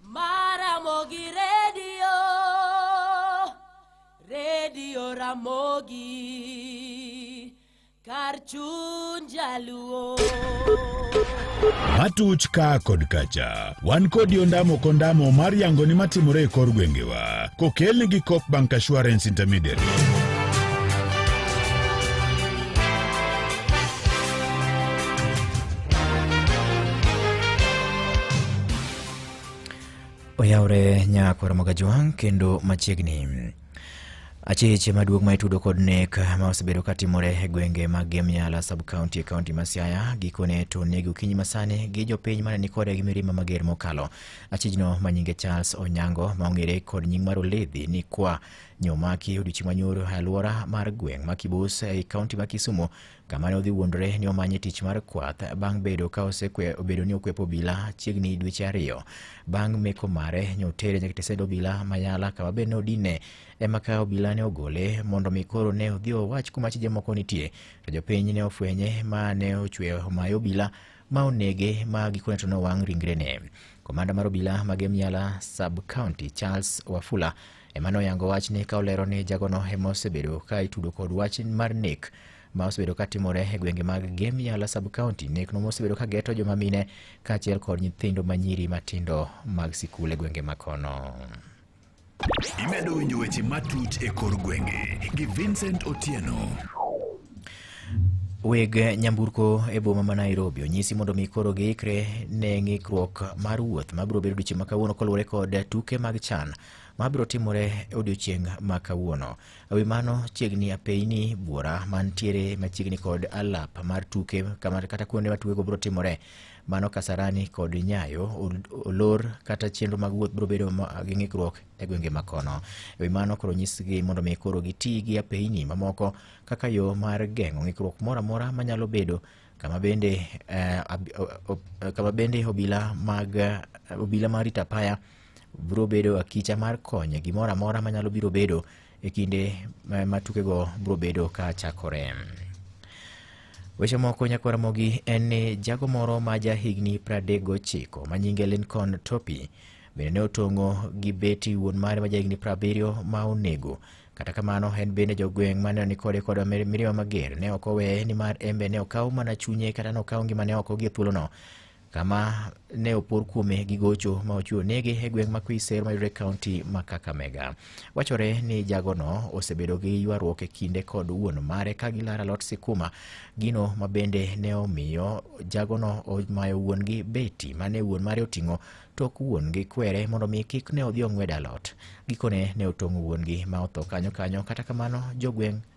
Maramogi redio, redio Ramogi, kar chuny jaluo. Matuch ka kod kacha, wan kodi ondamo kondamo mar yango ni matimore e kor gwengewa, kokelni gi Coop Bank Assurance Intermediary. Oyawre nyako Ramoga Jwang' kendo machiegni. Achiche maduong' ma itudo kod nek ma osebedo ka timore e gwenge mag Gemyala sub county e kaunti ma Siaya gikone to negi okinyi masani gi jopiny mane ni kode gi mirima mager mokalo. Achijno ma nyinge Charles Onyango ma ong'ere kod nying mar Oledhi ni kwa nyomaki odiochieng' manyoro e alwora mar gweng' ma Kibus ei kaunti ma Kisumo kama ne odhi wuondore ni omanye tich mar kwath bang' bedo ka osekwe obedo ni okwepo obila chiegni dweche ariyo bang' meko mare nyotere nyaka tesend obila mayala kama bende ne odine ema ka obila ne ogole mondo mi koro ne odhi owach kuma chije moko nitie to jopiny ne ofwenye ma ne ochwe omayo obila ma onege ma gikone to nowang' ringrene komanda mar obila ma Gemyala sub county Charles Wafula Emmanuel oyango wachni ka olero ni jagono ema osebedo ka itudo kod wach mar nek ma osebedo ka timore e gwenge mag Gem Yala sub county. Nekno mosebedo ka geto joma mine kaachiel kod nyithindo ma nyiri matindo mag sikul e gwenge ma kono. Imedo winjo weche matut e kor gwenge gi Vincent Otieno. Weg nyamburko e boma ma Nairobi onyisi mondo mi koro giikre ne ng'ikruok mar wuoth ma biro bedo odiechieng' ma kawuono kaluwore kod tuke mag CHAN ma biro timore e odiechieng' ma kawuono. E wi mano, chiegni apeyini buora mantiere machiegni kod alap mar tuke kama- kata kuonde ma tukego biro timore mano Kasarani kod Nyayo ol- olor kata chenro mag wuoth biro bedo ma- gi ng'ikruok e gwenge ma kono. E wi mano, koro nyisgi mondo mi koro giti gi apeyini mamoko kaka yo mar geng'o ng'ikruok moro amora manyalo bedo kama bende eh, ab- o- o- kama bende obila mag eh, obila ma rito apaya biro bedo akicha mar konye gimoro amora manyalo biro bedo e kinde ma- ma tukego biro bedo ka chakore. Weche moko nyakwaramogi en ni jago moro ma ja higni 39 ma nyinge Lincoln Topi bende ne otong'o gi beti wuon mare ma ja higni 70 ma onego. Kata kamano en bende jogweng' ma ne ni kode kod mir- mirima mager ne ok oweye nimar en be ne okawo mana chunye kata ne okawo ngimane oko gie thuolono kama ne opor kuome gi gocho ma ochiwo nege e gweng' ma Kwiser mayudore e kaunti ma Kakamega. Wachore ni jagono osebedo gi ywaruok e kinde kod wuon mare ka gilara alot sikuma, gino ma bende ne omiyo jagono omayo wuon-gi beti mane wuon mare oting'o tok wuon-gi kwere mondo mi kik ne odhi ong'wed alot. Gikone ne otong'o wuon-gi ma otho kanyo kanyo, kata kamano jogweng'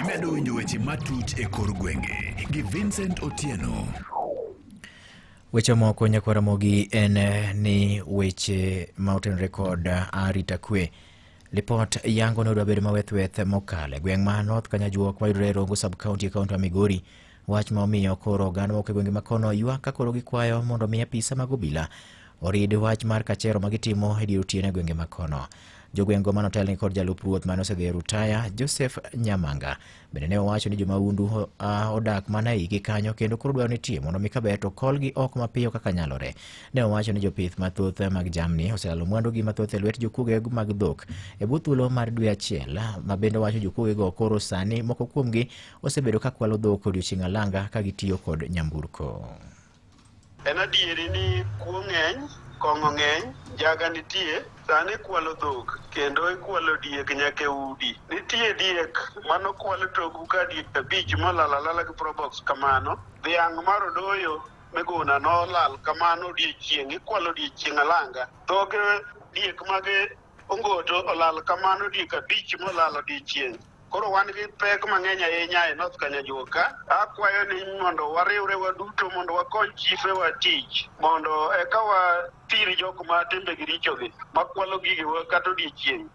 Imedo winjo weche matut e kor gwenge gi Vincent Otieno. Weche moko nyakwar Ramogi en eh, ni weche ma otenore kod eh, arita kwe. Lipot yango ni odwa bedo mawethweth mokalo e gweng' ma North Kanyajwok mayudore e Rongo sub-county e kaunti ma Migori Wach ma omiyo koro oganda moko e gwenge ma kono ywak ka koro gikwayo mondo omi apisa mag obila orid wach mar kachero ma gitimo e dier otieno e gwenge ma kono. Jogweng'go mane otelni kod jalup ruoth mane osedhi e rutaya Joseph Nyamanga bende ne owacho ni jomahundu ho- ah, odak mana e igi kanyo kendo koro dwaro nitie mondo mi kaber to kolgi oko mapiyo kaka nyalore. Ne owacho ni jopith mathoth mag jamni oselalo mwandugi mathoth e lwet jokuoge mag dhok e bwo thuolo mar dwe achiel ma bende owacho jokuogego koro sani moko kuomgi osebedo ka kwalo dhok odiochieng' alanga ka gitiyo kod nyamburko. En adieri ni kuo ng'eny, kong'o ng'eny, njaga nitie, sani ikwalo dhok kendo ikwalo diek nyaka e udi. Nitie diek mano kwal toku ka diek abich molal alala gi probox kamano. Dhiang' mar odoyo miguna nolal kamano odiochieng' ikwalo odiochieng' alanga. Dhoge diek mage Ongoto olal kamano diek abich molal odiechieng'. Koro wan gi pek mang'eny ahinya e North Kanyajua ka. Akwayo ni mondo wariwre waduto mondo wakony chife wa tich mondo eka wathir jok ma timbegi richogi makwalo gigewa kata odiechieng'.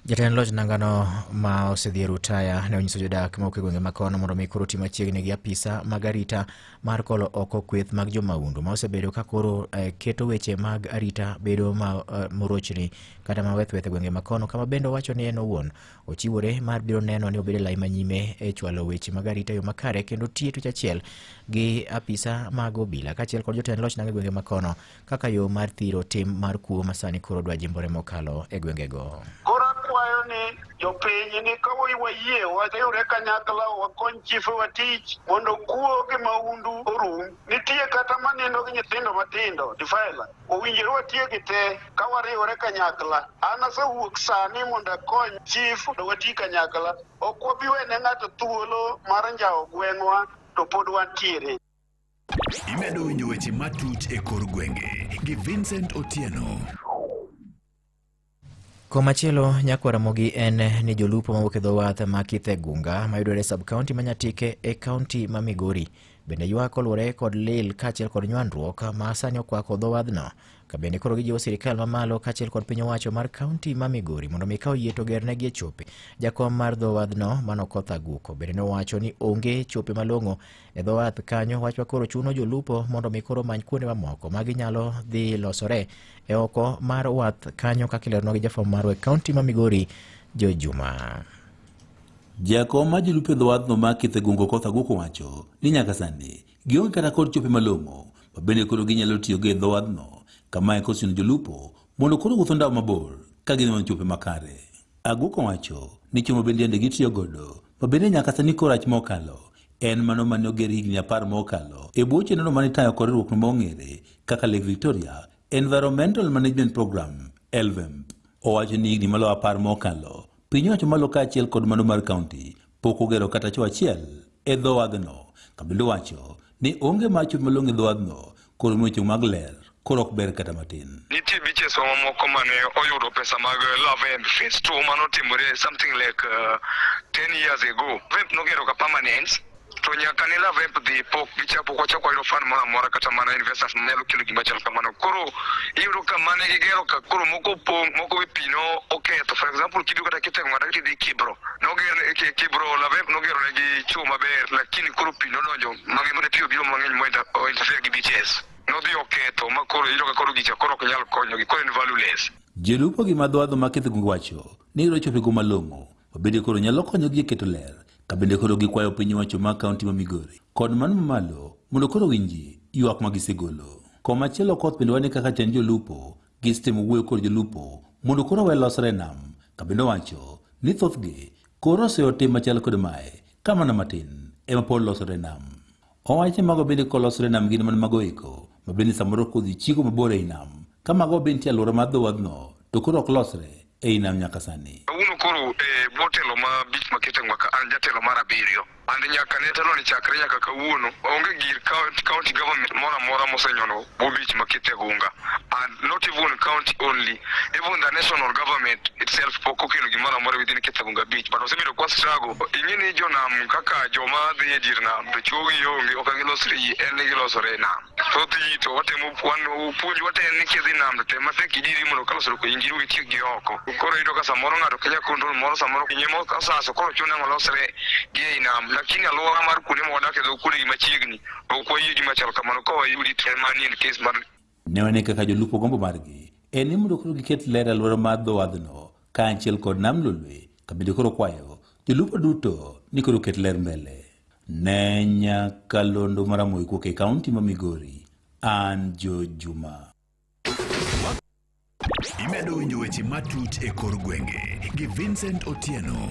Jatend loch nangano ma osedhi e rutaya ne onyiso jodak mawuok e gwenge ma kono mondo mi koro ti machiegni gi apisa mag arita mar kolo oko kweth mag jomahundu ma osebedo ka koro eh, keto weche mag arita bedo ma eh, morochni kata ma wethweth e gwenge ma kono kama bende owacho ni en owuon ochiwore mar biro neno ni obedo lai manyime e chwalo weche mag arita e yo makare kendo tiyo tich achiel gi apisa mag obila kaachiel kod jotend loch nanga e gwenge ma kono kaka yo mar thiro tim mar kuo masani koro dwa jimbore mokalo e gwengego. Koro akwayo ni jopiny ni ka wayie wariwre kanyakla wakony chife watich mondo kuo gi maundu orum. Nitie kata manindo gi nyithindo matindo difaila owinjore watiegi te ka wariwre kanyakla. An asewuok sani mondo akony chif mondo wati kanyakla. Ok wabi wene ng'ato thuolo mar njawo gweng'wa to pod wantiere. Imedo winjo weche matut e kor gwenge gi Vincent Otieno. Komachielo nyakwa Ramogi en ni jolupo mawuok e dho wath ma Kithe Gunga mayudore e sub-kaunti ma Nyatike e kaunti ma Migori bende ywak oluwore kod lil kaachiel kod nywandruok ma sani okwako dho wadhno ka bende koro gijiwo sirikal mamalo kaachiel kod piny owacho mar kaunti ma Migori mondo mi ka oyie to gernegi e chope. Jakom mar dho wadhno Mano Koth Aguko bende nowacho ni onge chope malong'o E dho wath kanyo wachwa koro chuno jolupo mondo mi koro many kuonde mamoko ma ginyalo dhi losore e oko mar wath kanyo kaka ileronwa gi jafwambo marwa e kaunti ma Migori Jo Juma. Jakom ma jolupo e dho wadhno ma Kithe Gungo Koth Aguko wacho ni nyaka sani gionge kata kod chope malong'o ma bende koro ginyalo tiyogo e dho wadhno kama e kochuno jolupo mondo koro wuotho ndao mabor ka gin chope makare. Aguko wacho ni chuma bende yande gitiyo godo ma bende nyaka sani korach mokalo en mano mane oger higni apar mokalo e bwo chenrono mane itayo kod riwruokno mong'ere kaka Lake Victoria Environmental Management Program LVEMP. Owacho ni higni maloyo apar mokalo piny owacho malo kaachiel kod mano mar kaunti Pok ogero kata cho achiel e dho wadhno. Kabindo wacho ni onge mar chot malong' e dho wadhno koro miyo chung' mag ler koro ok ber kata matin. Nitie biches wa mamoko mane oyudo pesa mag eh, Love and Face 2 mane otimore something like uh, eh, 10 years ago. Vemp nogero ka permanent to nyaka ne Love Vemp dhi pok gichapo kwa chako yudo fan moro amora kata mana investors nyalo kelo gima chal kamano. Koro iyudo ka mane gigero ka koro moko pong' moko be pino oketho. For example kidu kata kitengo kata kidhi Kibro noger ne ki- kibro labe nogero ne gi chuo maber lakini koro pi nodonjo magi mane pi obiro mang'eny mointa- ointerfere gi bts nodhi oketho ma koro iyudo ka koro gicha koro ok nyal konyogi koro en valueless Jolupo gi madhwadho ma Kithugu wacho ni gidwa chopo e go malong'o ma bende koro nyalo konyogi e keto ler ka bende koro gikwayo piny owacho ma kaunti ma Migori kod mano mamalo mondo koro winji ywak ma gisegolo. Komachielo koth bende wane kaka chand jolupo Gisitemo wuoyo kod jolupo mondo koro we losre e nam kabende owacho ni thothgi koro oseyo tim machal kod mae ka mana matin ema pod losore e nam. Owacho ni mago bende kolosore e nam gin mana mago eko ma bende samoro kodhi chiko mabor ei nam ka mago bende nitie alwora mar dhowadhno to koro ok losre ei nam nyaka sani. Kawuono koro e eh, bwo telo ma bich ma Kitengwa ka an jatelo mar abiriyo and nyaka ne telo ni chakre nyaka kawuono onge gir county government moro amora mosenyono bwo bich ma Kitegunga and not even county only even the national government itself pok okelo gimoro amora within Kitegunga beach but osebedo kwa struggle ing'e ni jonam kaka joma dhi e dir nam to chuogi onge ok gilosre en gilosore nam thoth ji to watemo wan puonj wate en ni kidhi nam to tem matek idiri mondo ka losruok injiri witiek gi oko koro yudo ka samoro ng'ato kenya kondol moro samoro kinye moro kasaso koro chune ng'olosre gi ei nam lakini alwora mar kuonde ma wadak e dho kuonde gi machiegni ok wayie gima chal kamano ka wayudi to en manie kes mar ne wane kaka jolupo gombo margi en ni mondo koro giket ler e alwora mar dho wadhno kaachiel kod nam lolwe kabende koro kwayo jolupo duto ni koro ket ler mbele ne nyaka londo maramoy kuok e kaunti ma migori an jo juma imedo winjo weche matut e kor gwenge gi vincent otieno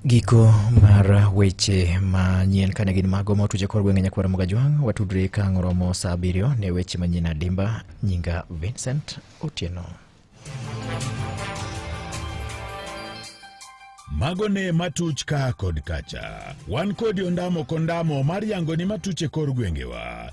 Giko mar weche manyien kane gin mago ma otuche kor gwenge nyakwar Mugajwang' watudre ka ng'oromo saa abiriyo ne weche manyien adimba nyinga Vincent Otieno. mago ne matuch ka kod kacha wan kodi ondamo kondamo mar yangoni matuche kor gwengewa